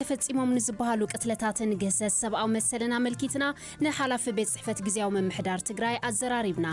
ተፈጺሞም ንዝበሃሉ ቅትለታትን ግህሰት ሰብኣዊ መሰልን ኣመልኪትና ንሓላፊ ቤት ጽሕፈት ግዝያዊ ምምሕዳር ትግራይ ኣዘራሪብና።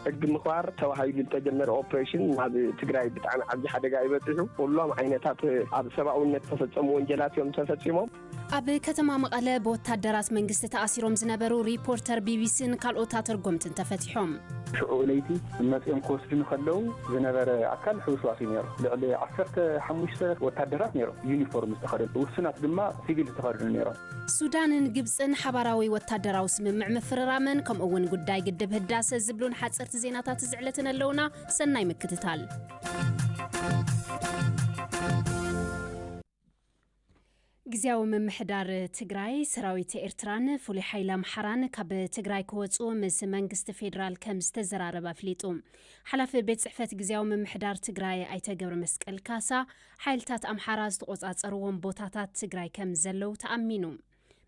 ሕጊ ምኽባር ተባሂሉ ዝተጀመረ ኦፕሬሽን ናብ ትግራይ ብጣዕሚ ዓብዪ ሓደጋ እዩ በፂሑ። ኩሎም ዓይነታት ኣብ ሰብኣውነት ዝተፈፀሙ ወንጀላት እዮም ተፈፂሞም። ኣብ ከተማ መቐለ ብወታደራት መንግስቲ ተኣሲሮም ዝነበሩ ሪፖርተር ቢቢሲን ካልኦት ኣተርጎምትን ተፈትዮም። በጺሖም። ሽዑ ለይቲ መጺኦም ክወስዱኒ ከለዉ ዝነበረ ኣካል ሕውስዋስ እዩ ነይሩ። ልዕሊ ዓሰርተ ሓሙሽተ ወታደራት ነይሮም፣ ዩኒፎርም ዝተኸድኑ፣ ውሱናት ድማ ሲቪል ዝተኸድኑ ነይሮም። ሱዳንን ግብጽን ሓባራዊ ወታደራዊ ስምምዕ ምፍርራመን ከምኡ እውን ጉዳይ ግድብ ህዳሰ ዝብሉን ሓጸርቲ ዜናታት እዚ ዕለትን ኣለዉና። ሰናይ ምክትታል። ግዝያዊ ምምሕዳር ትግራይ፣ ሰራዊት ኤርትራን ፍሉይ ሓይሊ ኣምሓራን ካብ ትግራይ ክወጽኡ ምስ መንግስቲ ፌደራል ከም ዝተዘራረበ ኣፍሊጡ። ሓላፊ ቤት ጽሕፈት ግዝያዊ ምምሕዳር ትግራይ ኣይተ ገብረመስቀል ካሳ፣ ሓይልታት ኣምሓራ ዝተቖጻጸርዎም ቦታታት ትግራይ ከም ዘለዉ ተኣሚኑ።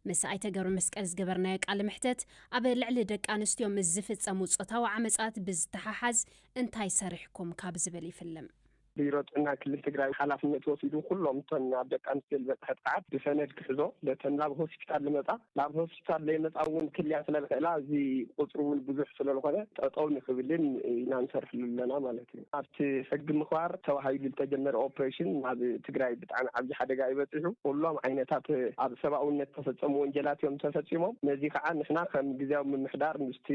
ምስ ኣይተ ገብረመስቀል ዝገበርናዮ ቃለ መሕተት፣ ኣብ ልዕሊ ደቂ ኣንስትዮ ምስ ዝፍጸሙ ጾታዊ ዓመጻት ብዝተሓሓዝ እንታይ ሰሪሕኩም ካብ ዝብል ይፍልም። ቢሮ ጥዕና ክልል ትግራይ ሓላፍነት ወሲዱ ኩሎም እተን ኣብ ደቂ ኣንስትዮ ዝበፅሐ ጥቕዓት ብሰነድ ክሕዞ ነተን ናብ ሆስፒታል ልመፃ ናብ ሆስፒታል ለይመፃ እውን ክልያ ስለልኽእላ እዚ ቁፅሪ እውን ብዙሕ ስለልኾነ ጠጠው ንክብልን ኢና ንሰርሕሉ ኣለና ማለት እዩ። ኣብቲ ሕጊ ምኽባር ተባሂሉ ልተጀመረ ኦፕሬሽን ናብ ትግራይ ብጣዕሚ ዓብዪ ሓደጋ እዩ በፂሑ። ኩሎም ዓይነታት ኣብ ሰብኣውነት ዝተፈፀሙ ወንጀላት እዮም ተፈፂሞም። ነዚ ከዓ ንሕና ከም ግዝያዊ ምምሕዳር ምስቲ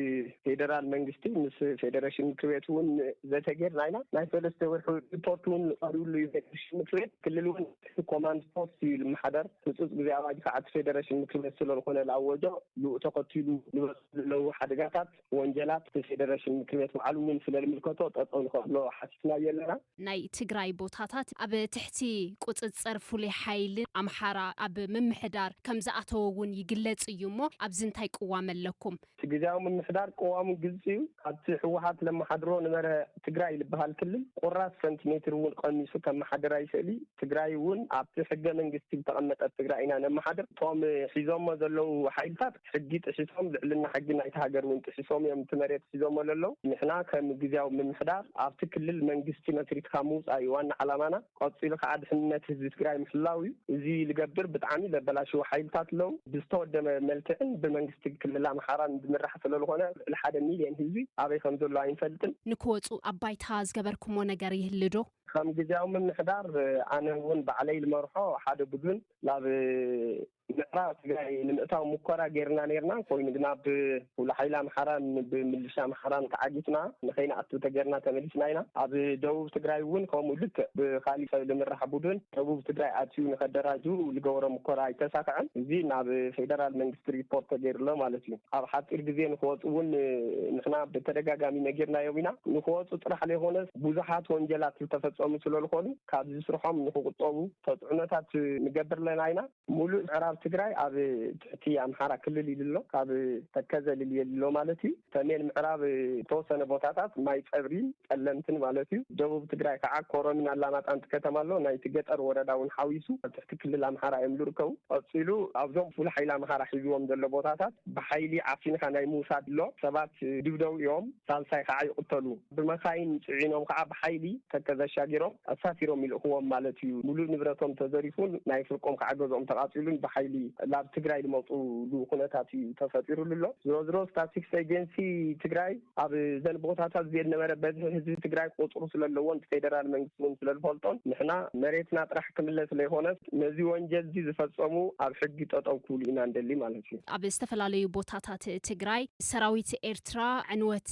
ፌደራል መንግስቲ ምስ ፌደሬሽን ምክር ቤት እውን ዘተ ጌርና ኢና። ናይ ሰለስተ ወርሒ ሪፖርት እውን ቀሪቡሉ እዩ ፌደሬሽን ምክር ቤት። ክልል እውን እቲ ኮማንድ ፖስት እዩ ልመሓደር። ህፁፅ ግዜ ኣዋጅ ከዓ እቲ ፌደሬሽን ምክር ቤት ስለልኾነ ልኣወጆ። ብኡ ተኸቲሉ ልበፅሑ ልለው ሓደጋታት፣ ወንጀላት እቲ ፌደሬሽን ምክር ቤት ባዕሉ እውን ስለልምልከቶ ጠጠው ንኸብሎ ሓቲትናዮ ኣለና። ናይ ትግራይ ቦታታት ኣብ ትሕቲ ቁፅፅር ፍሉይ ሓይሊ ኣምሓራ ኣብ ምምሕዳር ከምዝኣተወ እውን ይግለፅ እዩ እሞ ኣብዚ እንታይ ቅዋም ኣለኩም? እቲ ግዝያዊ ምምሕዳር ቅዋሙ ግልፂ ዩ። ካብቲ ህወሓት ለመሓድሮ ንበረ ትግራይ ልበሃል ክልል ቁራስ ሰንቲሜትር እውን ቐኒሱ ከመሓድር ኣይኽእልይ። ትግራይ እውን ኣብቲ ሕገ መንግስቲ ዝተቐመጠት ትግራይ ኢና ነመሓድር። እቶም ሒዞሞ ዘለዉ ሓይልታት ሕጊ ጥሒሶም ልዕልና ሕጊ ናይቲ ሃገር እውን ጥሒሶም እዮም እቲ መሬት ሒዞሞ ለለዉ። ንሕና ከም ግዝያዊ ምምሕዳር ኣብቲ ክልል መንግስቲ መስሪትካ ምውፃእ ዩ ዋና ዓላማና። ቀፂሉ ካዓ ድሕንነት ህዝቢ ትግራይ ምሕላው እዩ እዚ ልገብር ብጣዕሚ ለበላሽው ሓይልታት ለው ብዝተወደመ መልክዕን ብመንግስቲ ክልል ኣምሓራን ዝምራሕ ሰለልኾነ ልዕሊ ሓደ ሚልየን ህዝቢ ኣበይ ከምዘሎ ኣይንፈልጥን። ንክወፁ ኣብ ባይታ ዝገበርኩሞ ነገር ይህሊ ዶ? ከም ግዝያዊ ምምሕዳር ኣነ እውን ባዕለይ ልመርሖ ሓደ ቡዱን ላብ ምዕራብ ትግራይ ንምእታው ሙኮራ ገይርና ነይርና ኮይኑ ግና ብፍሉይ ሓይሊ ኣምሓራን ብምልሻ ኣምሓራን ተዓጊትና ንከይንኣቱ ተገርና ተመሊስና ኢና ኣብ ደቡብ ትግራይ እውን ከምኡ ልክዕ ብካሊእ ሰብ ልምራሕ ቡዱን ደቡብ ትግራይ ኣትዩ ንከደራጁ ልገበሮ ሙኮራ ኣይተሳከዐን እዚ ናብ ፌደራል መንግስቲ ሪፖርት ተገይሩ ኣሎ ማለት እዩ ኣብ ሓፂር ግዜ ንክወፁ እውን ንሕና ብተደጋጋሚ ነጊርናዮም ኢና ንክወፁ ጥራሕ ለይኮነስ ቡዙሓት ወንጀላት ልተፈፀሙ ስለልኮኑ ካብዚ ስርሖም ንክቁጠቡ ተፅዕኖታት ንገብር ኣለና ኢና። ሙሉእ ምዕራብ ትግራይ ኣብ ትሕቲ ኣምሓራ ክልል ኢሉ ኣሎ። ካብ ተከዘ ልልየ ኣሎ ማለት እዩ። ሰሜን ምዕራብ ዝተወሰነ ቦታታት ማይ ፀብሪን ፀለምትን ማለት እዩ። ደቡብ ትግራይ ከዓ ኮረምን ኣላማጣን ከተማ ኣሎ። ናይቲ ገጠር ወረዳ እውን ሓዊሱ ኣብ ትሕቲ ክልል ኣምሓራ እዮም ዝርከቡ። ቀፂሉ ኣብዞም ፍሉይ ሓይሊ ኣምሓራ ሒዝዎም ዘሎ ቦታታት ብሓይሊ ዓፊንኻ ናይ ምውሳድ ኣሎ። ሰባት ይድብደቡ እዮም። ሳልሳይ ከዓ ይቕተሉ። ብመኻይን ጽዒኖም ከኣ ብሓይሊ ተከዘ ኣሻጊሮም ኣሳፊሮም ይልእኽዎም ማለት እዩ። ሙሉእ ንብረቶም ተዘሪፉን ናይ ፍርቆም ከኣ ገዝኦም ተቓጺሉን ብሓይሊ ላብ ትግራይ ልመጹሉ ኩነታት እዩ ተፈጢሩሉ ኣሎ። ዝሮዝሮ ስታስቲክስ ኤጀንሲ ትግራይ ኣብ እዘን ቦታታት እዚኤን ነበረ በዝሒ ህዝቢ ትግራይ ቁጽሩ ስለለዎን ብፌደራል መንግስቲ እውን ስለዝፈልጦን ንሕና መሬትና ጥራሕ ክምለስ ለይኾነስ ነዚ ወንጀል እዚ ዝፈጸሙ ኣብ ሕጊ ጠጠው ክብሉ ኢና ንደሊ ማለት እዩ። ኣብ ዝተፈላለዩ ቦታታት ትግራይ ሰራዊት ኤርትራ ዕንወት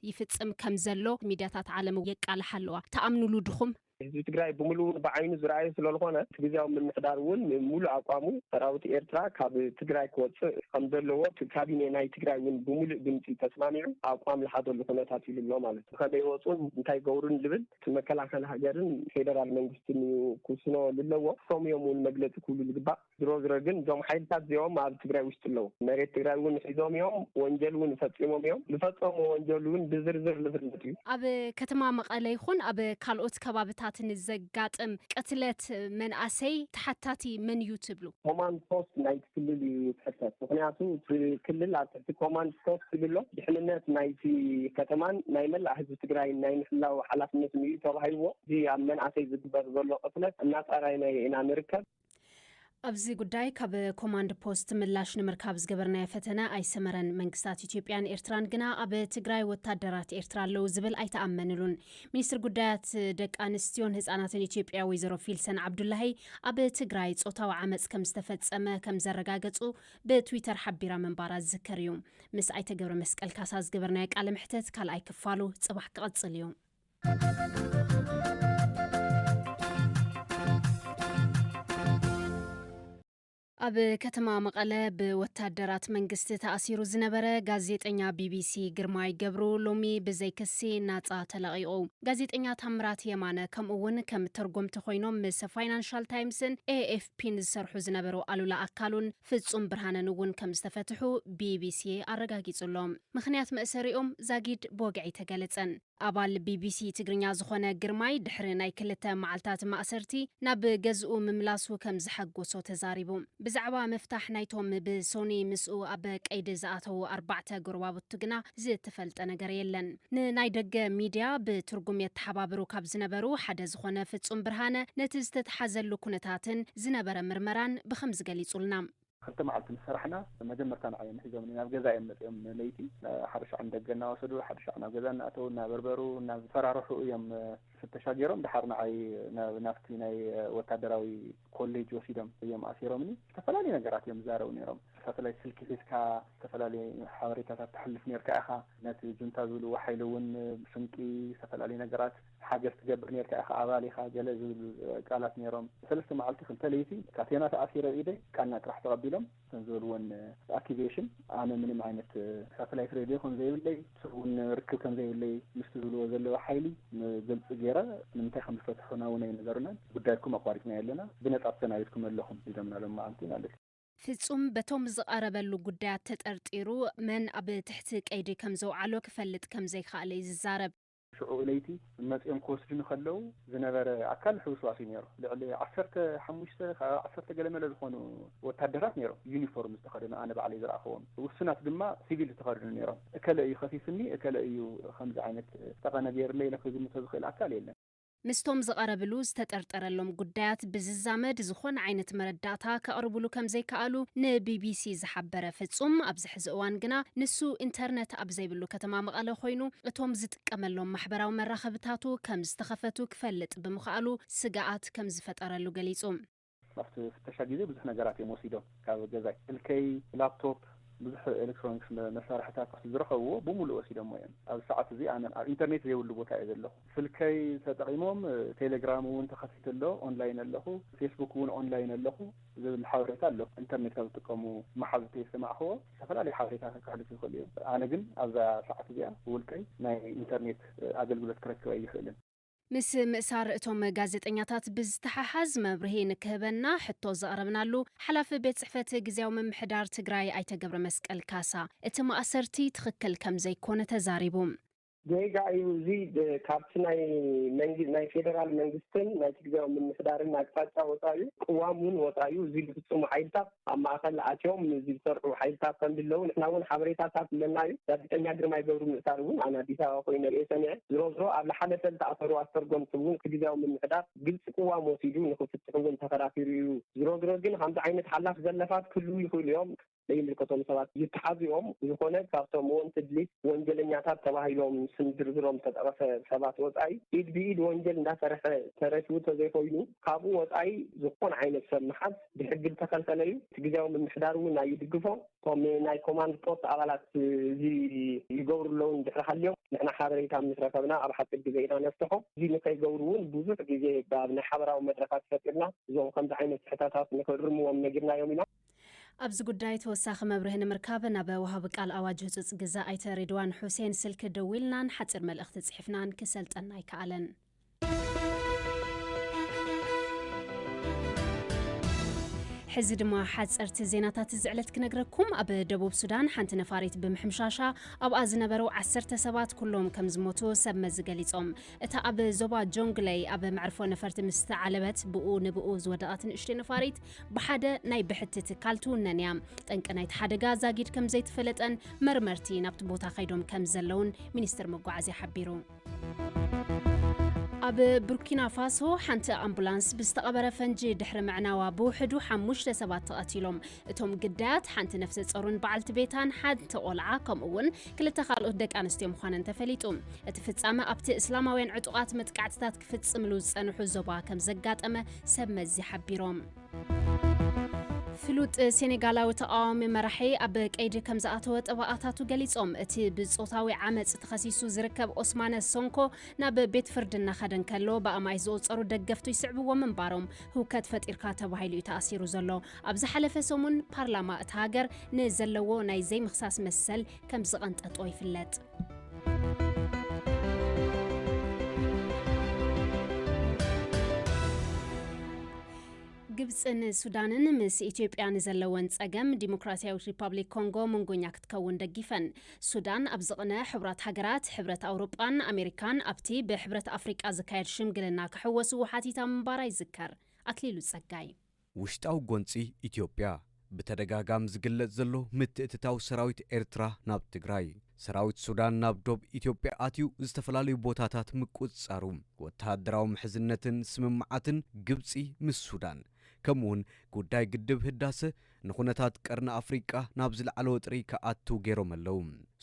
ይፍጽም ከም ዘሎ ሚድያታት ዓለም የቃልሓ ኣለዋ። ትኣምኑሉ ድኹም? ህዝቢ ትግራይ ብምሉኡ ብዓይኑ ዝረኣዮ ስለልኾነ እቲ ግዝያዊ ምምሕዳር እውን ንምሉእ ኣቋሙ ሰራዊት ኤርትራ ካብ ትግራይ ክወጽእ ከም ዘለዎ እቲ ካቢኔ ናይ ትግራይ እውን ብምሉእ ድምጺ ተስማሚዑ ኣቋም ልሓዘሉ ኩነታት ኢሉ ኣሎ ማለት እዩ። ብኸመይ ይወጹን እንታይ ይገብሩን ልብል እቲ መከላኸሊ ሃገርን ፌደራል መንግስትን እዩ ክውስኖ ልለዎ። እሶም እዮም እውን መግለጺ ክብሉ ልግባእ። ዝሮ ዝሮ ግን እዞም ሓይልታት እዚኦም ኣብ ትግራይ ውሽጢ ኣለው መሬት ትግራይ እውን ሒዞም እዮም ወንጀል እውን ፈፂሞም እዮም ዝፈፀሙ ወንጀል እውን ብዝርዝር ዝፍለጥ እዩ። ኣብ ከተማ መቐለ ይኹን ኣብ ካልኦት ከባብታት ንዘጋጥም ቅትለት መንኣሰይ ተሓታቲ መን እዩ ትብሉ? ኮማንድ ፖስት ናይቲ ክልል እዩ ዝሕተት ምኽንያቱ እቲ ክልል ኣብ ትሕቲ ኮማንድ ፖስት እዩ ዘሎ ድሕንነት ናይቲ ከተማን ናይ መላእ ህዝቢ ትግራይን ናይ ምሕላው ሓላፍነትን እዩ ተባሂልዎ እዚ ኣብ መንኣሰይ ዝግበር ዘሎ ቅትለት እናፃራይናዮ ኢና ንርከብ። ኣብዚ ጉዳይ ካብ ኮማንድ ፖስት ምላሽ ንምርካብ ዝገበርናዮ ፈተነ ኣይሰመረን። መንግስታት ኢትዮጵያን ኤርትራን ግና ኣብ ትግራይ ወታደራት ኤርትራ ኣለዉ ዝብል ኣይተኣመንሉን። ሚኒስትር ጉዳያት ደቂ ኣንስትዮን ህፃናትን ኢትዮጵያ ወይዘሮ ፊልሰን ዓብዱላሂ ኣብ ትግራይ ፆታዊ ዓመፅ ከም ዝተፈፀመ ከም ዘረጋገፁ ብትዊተር ሓቢራ ምንባራ ዝዝከር እዩ። ምስ ኣይተ ገብረ መስቀል ካሳ ዝገበርናዮ ቃለ መሕተት ካልኣይ ክፋሉ ፅባሕ ክቕፅል እዩ። ኣብ ከተማ መቐለ ብወታደራት መንግስቲ ተኣሲሩ ዝነበረ ጋዜጠኛ ቢቢሲ ግርማይ ገብሩ ሎሚ ብዘይ ክሲ ናፃ ተለቒቑ። ጋዜጠኛ ታምራት የማነ ከምኡ እውን ከም ተርጎምቲ ኮይኖም ምስ ፋይናንሻል ታይምስን ኤኤፍፒን ዝሰርሑ ዝነበሩ ኣሉላ ኣካሉን ፍጹም ብርሃነን እውን ከም ዝተፈትሑ ቢቢሲ ኣረጋጊጹ ኣሎ። ምኽንያት መእሰሪኦም ዛጊድ ብወግዒ ተገለጸን። ኣባል ቢቢሲ ትግርኛ ዝኾነ ግርማይ ድሕሪ ናይ ክልተ መዓልታት ማእሰርቲ ናብ ገዝኡ ምምላሱ ከም ዘሐጎሶ ተዛሪቡ። ብዛዕባ ምፍታሕ ናይቶም ብሶኑይ ምስኡ ኣብ ቀይዲ ዝኣተዉ ኣርባዕተ ጎረባብቱ ግና ዝተፈልጠ ነገር የለን። ንናይ ደገ ሚድያ ብትርጉም የተሓባብሩ ካብ ዝነበሩ ሓደ ዝኾነ ፍጹም ብርሃነ ነቲ ዝተትሓዘሉ ኩነታትን ዝነበረ ምርመራን ብኸምዚ ገሊጹልና። ክልተ መዓልቲ ምስ ሰራሕና መጀመርታ ንዓይ እዮም ሒዞምኒ። ናብ ገዛ እዮም መጺኦም ለይቲ ሓደ ሻዕ ንደገ እናወሰዱ ሓደ ሻዕ ናብ ገዛ እናኣተዉ እናበርበሩ እናፈራርሑ እዮም ፍተሻ ገይሮም ደሓር ንዓይ ናብቲ ናይ ወታደራዊ ኮሌጅ ወሲዶም እዮም ኣሲሮምኒ። ዝተፈላለዩ ነገራት እዮም ዝዛረቡ ነይሮም። ሳተላይት ስልኪ ሒዝካ ዝተፈላለዩ ሓበሬታታት ተሕልፍ ነይርካ ኢኻ። ነቲ ጁንታ ዝብልዎ ሓይሊ እውን ስንቂ ዝተፈላለዩ ነገራት። ሓገዝ ትገብር ኔርካ ኢኻ ኣባል ኢኻ ገለ ዝብል ቃላት ኔሮም ሰለስተ መዓልቲ ክልተ ለይቲ ካቴና ተኣሲረ ኣብ ኢደይ ቃና ጥራሕ ተቐቢሎም እተን ዝበልወን ኣክቲቬሽን ኣነ ምንም ዓይነት ሳተላይት ሬድዮ ከም ዘይብለይ ሰብ ውን ርክብ ከም ዘይብለይ ምስቲ ዝብልዎ ዘለዉ ሓይሊ ግልጺ ጌረ ንምንታይ ከም ዝፈትሑና ውን ኣይነገሩናን ጉዳይኩም ኣቋሪጽናዮ ኣለና ብነጻ ትሰናቢድኩም ኣለኹም ኢሎምና ሎም መዓልቲ ማለት እዩ። ፍጹም በቶም ዝቐረበሉ ጉዳያት ተጠርጢሩ መን ኣብ ትሕቲ ቀይዲ ከም ዘውዓሎ ክፈልጥ ከም ዘይከኣለ እዩ ዝዛረብ። ሽዑ ለይቲ መጺኦም ክወስዱኒ ከለዉ ዝነበረ ኣካል ሕውስዋስ እዩ ነይሩ። ልዕሊ ዓሰርተ ሓሙሽተ ካብ ዓሰርተ ገለመለ ዝኾኑ ወታደራት ነይሮም፣ ዩኒፎርም ዝተኸደኑ ኣነ ባዕለይ ዝረኣኹዎም። ውሱናት ድማ ሲቪል ዝተኸድኑ ነይሮም። እከለ እዩ ከሲሱኒ፣ እከለ እዩ ከምዚ ዓይነት ጠቐነ ገይሩለይ ኢለ ክግምቶ ዝኽእል ኣካል የለን። ምስቶም ዝቐረብሉ ዝተጠርጠረሎም ጉዳያት ብዝዛመድ ዝኾነ ዓይነት መረዳእታ ከቕርብሉ ከምዘይከኣሉ ንቢቢሲ ዝሓበረ ፍጹም፣ ኣብዚ ሕዚ እዋን ግና ንሱ ኢንተርነት ኣብ ዘይብሉ ከተማ መቐለ ኮይኑ እቶም ዝጥቀመሎም ማሕበራዊ መራኸብታቱ ከምዝተኸፈቱ ክፈልጥ ብምኽኣሉ ስግኣት ከምዝፈጠረሉ ገሊጹ። ኣብቲ ፍተሻ ግዜ ብዙሕ ነገራት እዮም ወሲዶም ካብ ገዛይ ስልከይ ላፕቶፕ ብዙሕ ኤሌክትሮኒክስ መሳርሕታት ኣብቲ ዝረኸብዎ ብሙሉእ ወሲዶሞ እዮም ኣብዚ ሰዓት እዚ ኣነ ኣብ ኢንተርኔት ዘይብሉ ቦታ እየ ዘለኹ ስልከይ ተጠቒሞም ቴሌግራም እውን ተኸፊቱ ኣሎ ኦንላይን ኣለኹ ፌስቡክ እውን ኦንላይን ኣለኹ ዝብል ሓበሬታ ኣሎ ኢንተርኔት ካብ ዝጥቀሙ መሓዙተይ ዝሰማዕኽዎ ዝተፈላለዩ ሓበሬታታት ከሕልፉ ይኽእሉ እዮም ኣነ ግን ኣብዛ ሰዓት እዚኣ ብውልቀይ ናይ ኢንተርኔት ኣገልግሎት ክረክብ ኣይኽእልን ምስ ምእሳር እቶም ጋዜጠኛታት ብዝተሓሓዝ መብርሂ ንክህበና ሕቶ ዘቕረብናሉ ሓላፊ ቤት ፅሕፈት ግዝያዊ ምምሕዳር ትግራይ ኣይተ ገብረመስቀል ካሳ እቲ ማእሰርቲ ትኽክል ከምዘይኮነ ተዛሪቡ። ጌጋ እዩ እዚ ካብቲ ናይ ፌደራል መንግስትን ናይቲ ግዝያዊ ምምሕዳርን ኣቅጣጫ ወፃእዩ፣ ቅዋም እውን ወፃእዩ፣ እዚ ዝፍፅሙ ሓይልታት ኣብ ማእኸል ኣትዮም ንዚ ዝሰርሑ ሓይልታት ከምዝለው ንሕና እውን ሓበሬታታት ኣለና እዩ። ጋዜጠኛ ግርማይ ገብሩ ምእሳር እውን ኣነ ኣዲስ ኣበባ ኮይነ ርእየ ሰሚዐ። ዝሮዝሮ ኣብ ልሓለፈ ዝተኣሰሩ ኣስተርጎምቲ እውን እቲ ግዝያዊ ምምሕዳር ግልፂ ቅዋም ወሲዱ ንክፍትሑ እውን ተኸራኪሩ እዩ። ዝሮዝሮ ግን ከምዚ ዓይነት ሓላፍ ዘለፋት ክህልው ይኽእሉ እዮም። ዘይምልከቶም ሰባት ይተሓዙ እዮም። ብዝኾነ ካብቶም ወንትድ ሊስት ወንጀለኛታት ተባሂሎም ስም ዝርዝሮም ዝተጠቐሰ ሰባት ወፃኢ ኢድ ብኢድ ወንጀል እንዳሰርሐ ተረፊቡ ተዘይኾይኑ ካብኡ ወፃኢ ዝኾነ ዓይነት ሰብ ምሓዝ ብሕጊ ዝተኸልከለ እዩ። እቲ ግዝያዊ ምምሕዳር እውን ኣይድግፎ። እቶም ናይ ኮማንድ ፖስት ኣባላት እዚ ይገብሩ ኣለዉ እንድሕሪ ሃልዮም ንሕና ሓበሬታ ምስ ረኸብና ኣብ ሓፂር ግዘ ኢና ነፍትሖ። እዚ ንከይገብሩ እውን ብዙሕ ግዜ ኣብ ናይ ሓበራዊ መድረኻት ፈጢርና እዞም ከምዚ ዓይነት ስሕተታት ንክእርምዎም ነጊርናዮም ኢና። ኣብዚ ጉዳይ ተወሳኺ መብርሂ ንምርካብ ናብ ወሃቢ ቃል ኣዋጅ ህፁፅ ግዘ ኣይተ ሬድዋን ሑሴን ስልኪ ደዊልናን ሓፂር መልእኽቲ ፅሒፍናን ክሰልጠና ኣይከኣለን። ሕዚ ድማ ሓፀርቲ ዜናታት እዚ ዕለት ክነግረኩም ኣብ ደቡብ ሱዳን ሓንቲ ነፋሪት ብምሕምሻሻ ኣብኣ ዝነበሩ ዓሰርተ ሰባት ኩሎም ከም ዝሞቱ ሰብ መዚ ገሊፆም እታ ኣብ ዞባ ጆንግለይ ኣብ መዕርፎ ነፈርቲ ምስ ተዓለበት ብኡ ንብኡ ዝወደቐት ንእሽተይ ነፋሪት ብሓደ ናይ ብሕቲ ትካል ትውነን እያ ጠንቂ ናይቲ ሓደጋ ዛጊድ ከም ዘይተፈለጠን መርመርቲ ናብቲ ቦታ ከይዶም ከም ዘለውን ሚኒስትር መጓዓዝያ ሓቢሩ ኣብ ቡርኪና ፋሶ ሓንቲ ኣምቡላንስ ብዝተቐበረ ፈንጂ ድሕሪ ምዕናዋ ብውሕዱ ሓሙሽተ ሰባት ተቐቲሎም እቶም ግዳያት ሓንቲ ነፍሰ ጸሩን በዓልቲ ቤታን ሓንቲ ቆልዓ ከምኡ እውን ክልተ ካልኦት ደቂ ኣንስትዮ ምዃነን ተፈሊጡ እቲ ፍጻመ ኣብቲ እስላማውያን ዕጡቓት መጥቃዕትታት ክፍጽምሉ ዝጸንሑ ዞባ ከም ዘጋጠመ ሰብ መዚ ሓቢሮም ፍሉጥ ሴኔጋላዊ ተቓዋሚ መራሒ ኣብ ቀይዲ ከም ዝኣተወ ጠበቓታቱ ገሊጾም። እቲ ብጾታዊ ዓመጽ ተኸሲሱ ዝርከብ ኦስማነ ሶንኮ ናብ ቤት ፍርዲ እናኸደ እንከሎ ብኣማኢት ዝቑጸሩ ደገፍቱ ይስዕብዎ ምንባሮም ህውከት ፈጢርካ ተባሂሉ እዩ ተኣሲሩ ዘሎ። ኣብ ዝሓለፈ ሰሙን ፓርላማ እታ ሃገር ንዘለዎ ናይ ዘይምኽሳስ መሰል ከም ዝቐንጠጦ ይፍለጥ። ግብፅን ሱዳንን ምስ ኢትዮጵያ ንዘለወን ፀገም ዲሞክራሲያዊት ሪፐብሊክ ኮንጎ መንጎኛ ክትከውን ደጊፈን። ሱዳን ኣብ ዝቕነ ሕቡራት ሃገራት፣ ሕብረት ኣውሮጳን ኣሜሪካን ኣብቲ ብሕብረት ኣፍሪቃ ዝካየድ ሽምግልና ክሕወስዎ ሓቲታ ምንባራ ይዝከር። ኣክሊሉ ጸጋይ ውሽጣዊ ጎንፂ ኢትዮጵያ፣ ብተደጋጋሚ ዝግለፅ ዘሎ ምትእትታው ሰራዊት ኤርትራ ናብ ትግራይ፣ ሰራዊት ሱዳን ናብ ዶብ ኢትዮጵያ ኣትዩ ዝተፈላለዩ ቦታታት ምቁፅፃሩ፣ ወተሃደራዊ ምሕዝነትን ስምምዓትን ግብፂ ምስ ሱዳን፣ ከምኡ ውን ጉዳይ ግድብ ህዳሰ ንኹነታት ቀርኒ ኣፍሪቃ ናብ ዝለዓለ ወጥሪ ክኣቱ ገይሮም ኣለው።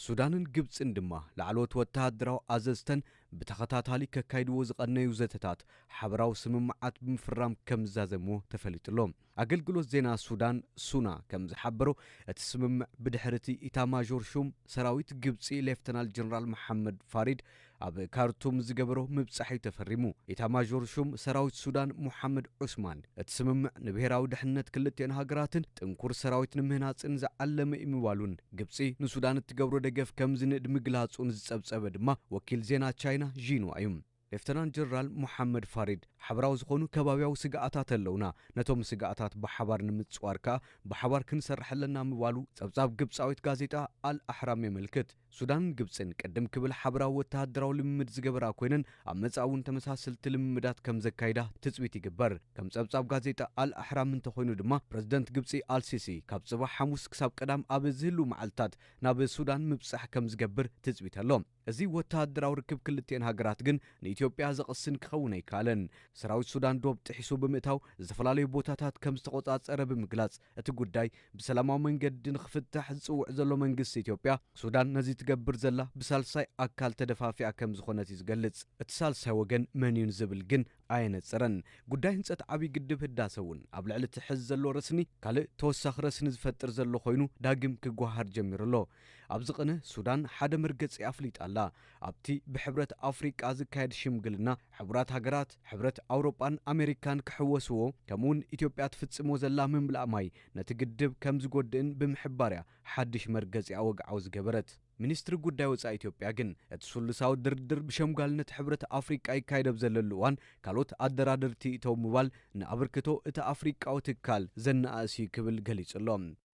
ሱዳንን ግብፅን ድማ ላዕለዎት ወተሃደራዊ ኣዘዝተን ብተኸታታሊ ከካይድዎ ዝቐነዩ ዘተታት ሓበራዊ ስምምዓት ብምፍራም ከምዝዛዘምዎ ተፈሊጡ'ሎ። ኣገልግሎት ዜና ሱዳን ሱና ከምዝሓበሮ፣ እቲ ስምምዕ ብድሕሪ'ቲ ኢታማዦር ሹም ሰራዊት ግብጺ ሌፍተናል ጀነራል መሓመድ ፋሪድ ኣብ ካርቱም ዝገበሮ ምብጻሕ'ዩ ተፈሪሙ። ኢታማዦር ሹም ሰራዊት ሱዳን ሞሓመድ ዑስማን፣ እቲ ስምምዕ ንብሄራዊ ድሕንነት ክልቲኤን ሃገራትን ጥንኩር ሰራዊት ንምህናጽን ዝዓለመ'ዩ ምባሉን፣ ግብጺ ንሱዳን እትገብሮ ደገፍ ከም ዝንእድ ምግላጹ ንዝጸብጸበ ድማ ወኪል ዜና ቻይና ዢንዋ እዩ። ሌፍተናንት ጀነራል ሞሓመድ ፋሪድ፣ ሓበራዊ ዝኾኑ ከባብያዊ ስግኣታት ኣለውና፣ ነቶም ስግኣታት ብሓባር ንምጽዋር ከኣ ብሓባር ክንሰርሕ ኣለና ምባሉ ጸብጻብ ግብጻዊት ጋዜጣ ኣል ኣሕራም የመልክት። ሱዳንን ግብጽን ቅድም ክብል ሓበራዊ ወተሃደራዊ ልምምድ ዝገበራ ኮይነን፣ ኣብ መጻኢ እውን ተመሳሰልቲ ልምምዳት ከም ዘካይዳ ትጽቢት ይግበር። ከም ጸብጻብ ጋዜጣ ኣል ኣሕራም እንተኾይኑ ድማ ፕረዚደንት ግብጺ ኣል ሲሲ ካብ ጽባሕ ሓሙስ ክሳብ ቀዳም ኣብ ዝህልው መዓልታት ናብ ሱዳን ምብጻሕ ከም ዝገብር ትጽቢት ኣሎ። እዚ ወተሃደራዊ ርክብ ክልቲኤን ሃገራት ግን ንኢትዮጵያ ዘቕስን ክኸውን ኣይከኣለን። ሰራዊት ሱዳን ዶብ ጥሒሱ ብምእታው ዝተፈላለዩ ቦታታት ከም ዝተቖጻጸረ ብምግላጽ፣ እቲ ጉዳይ ብሰላማዊ መንገዲ ንኽፍታሕ ዝጽውዕ ዘሎ መንግስቲ ኢትዮጵያ፣ ሱዳን ነዚ ትገብር ዘላ ብሳልሳይ ኣካል ተደፋፊኣ ከም ዝኾነት እዩ ዝገልጽ። እቲ ሳልሳይ ወገን መን'ዩ ንዝብል ግን ኣየነጽረን። ጉዳይ ህንጸት ዓብዪ ግድብ ህዳሰ እውን ኣብ ልዕሊ እቲ ሕዚ ዘሎ ረስኒ ካልእ ተወሳኺ ረስኒ ዝፈጥር ዘሎ ኮይኑ ዳግም ክጓሃሃር ጀሚሩ ኣሎ። ኣብዚ ቅነ ሱዳን ሓደ መርገጺ ኣፍሊጣ ኣላ። ኣብቲ ብሕብረት ኣፍሪቃ ዝካየድ ሽምግልና፣ ሕቡራት ሃገራት፣ ሕብረት ኣውሮጳን ኣሜሪካን ክሕወስዎ፣ ከምኡ'ውን ኢትዮጵያ ትፍጽሞ ዘላ ምምላእ ማይ ነቲ ግድብ ከም ዝጎድእን ብምሕባር'ያ ሓድሽ መርገጺኣ ወግዓዊ ዝገበረት። ሚኒስትሪ ጉዳይ ወጻኢ ኢትዮጵያ ግን፣ እቲ ስሉሳዊ ድርድር ብሸምጋልነት ሕብረት ኣፍሪቃ ይካየድ ኣብ ዘለሉ እዋን፣ ካልኦት ኣደራደርቲ ይእተው ምባል ንኣበርክቶ እቲ ኣፍሪቃዊ ትካል ዘነኣእስ'ዩ ክብል ገሊጹ'ሎ።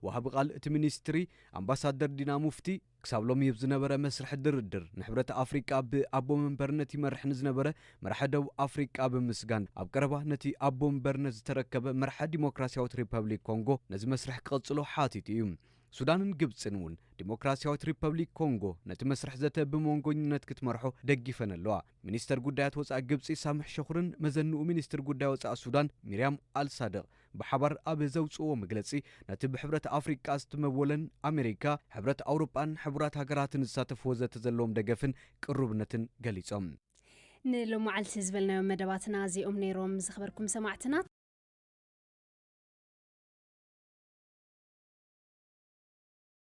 ወሃቢ ቃል እቲ ሚኒስትሪ ኣምባሳደር ዲና ሙፍቲ፣ ክሳብ ሎሚ ኣብ ዝነበረ መስርሕ ድርድር ንሕብረት ኣፍሪቃ ብኣቦ መንበርነት ይመርሕ ንዝነበረ መራሒ ደቡብ ኣፍሪቃ ብምምስጋን፣ ኣብ ቀረባ ነቲ ኣቦ መንበርነት ዝተረከበ መራሒ ዲሞክራስያዊት ሪፐብሊክ ኮንጎ ነዚ መስርሕ ክቕጽሎ ሓቲቱ እዩ። ሱዳንን ግብጽን እውን ዲሞክራስያዊት ሪፐብሊክ ኮንጎ ነቲ መስርሕ ዘተ ብሞንጎኝነት ክትመርሖ ደጊፈን ኣለዋ። ሚኒስተር ጉዳያት ወጻኢ ግብጺ ሳምሕ ሸኹርን መዘንኡ ሚኒስትር ጉዳይ ወጻኢ ሱዳን ሚርያም ኣልሳድቕ፣ ብሓባር ኣብ ዘውጽእዎ መግለጺ፣ ነቲ ብሕብረት ኣፍሪቃ ዝትመወለን፣ ኣመሪካ፣ ሕብረት ኣውሮጳን ሕቡራት ሃገራትን ዝሳተፍዎ ዘተ ዘለዎም ደገፍን ቅሩብነትን ገሊጾም። ንሎማዓልቲ ዝበልናዮም መደባትና እዚኦም ነይሮም ዝኸበርኩም ሰማዕትና።